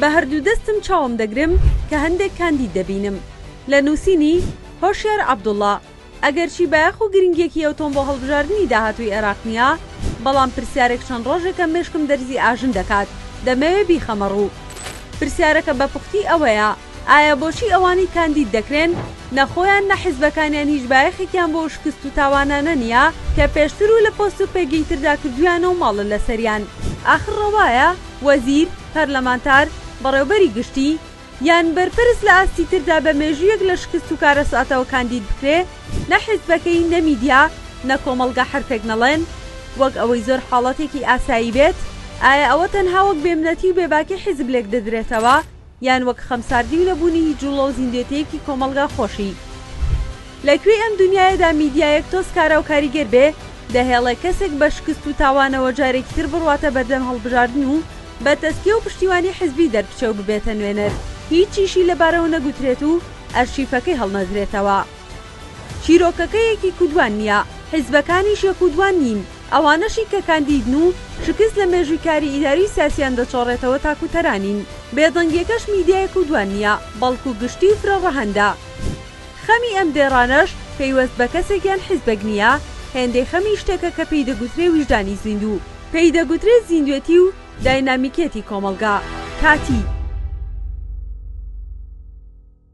بە هەردوو دەستم چاوم دەگرم کە هەندێک کاندید دەبینم لە نووسینی، هۆشیار عەبدوڵا، ئەگەرچی بایەخ و گرنگییەکی ئەوتۆم بۆ هەڵبژاردنی داهاتووی عێراق نییە، بەڵام پرسیارێک چەند ڕۆژێکە مێشکم دەرزی ئاژن دەکات، دەمەوێ بیخەمە ڕوو. پرسیارەکە بە پوختی ئەوەیە. ئایا بۆچی ئەوانەی کاندید دەکرێن، نە خۆیان نە حیزبەکانیان هیچ بایەخێکیان بۆ ئەو شکست و تاوانانە نییە کە پێشتر و لە پۆست و پێگەیتردا کردوویانە و ماڵە لەسەریان؟ ئاخر ڕەوایە وەزیر، پەرلەمانتار، بەڕێوەبەری گشتی، یان بەرپرس لە ئاستی تردا بە مێژوویەک لە شکست و کارەساتەوە کاندید بکرێ، نە حیزبەکەی، نە میدیا، نە کۆمەڵگە حەرفێک نەڵێن؟ وەک ئەوەی زۆر حاڵەتێکی ئاسایی بێت، ئایا ئەوە تەنها وەک بێمنەتی و بێباکی حیزب لێکدەدرێتەوە؟ یان وەک خەمساردی و نەبوونی هیچ جوڵە و زیندوێتییەکی کۆمەڵگا خۆشی. لە کوێی ئەم دونیایەدا میدیایەک تۆز کارا و کاریگەر بێ، دەهێڵێ کەسێک بە شکست و تاوانەوە جارێکی تر بڕواتە بەردەم هەڵبژاردن و بە تەسکیە و پشتیوانی حیزبی دەربچێ و ببێتە نوێنەر، هیچیشی لە بارەوە نەگوترێت و ئەرشیفەکەی هەڵنەدرێتەوە. چیرۆکەکە یەک و دوان نییە، حیزبەکانیش یەک و دوان نین. ئەوانەشی کە کاندیدن و شکست لە مێژووی کاری ئیداری و سیاسیان دەچۆڕێتەوە تاکوتەرانین. بێدەنگیەکەش میدیایەک و دوان نیە، بەڵکو گشتی و فرە ڕەهەندە. خەمی ئەم دێڕانەش پەیوەست بە کەسێک یان حیزبێک نیە، هێندەی خەمی شتێکە کە پێی دەگوترێ ویژدانی زیندوو، پێی دەگوترێ زیندوێتی و داینامیکیەتی کۆمەڵگا. کاتی.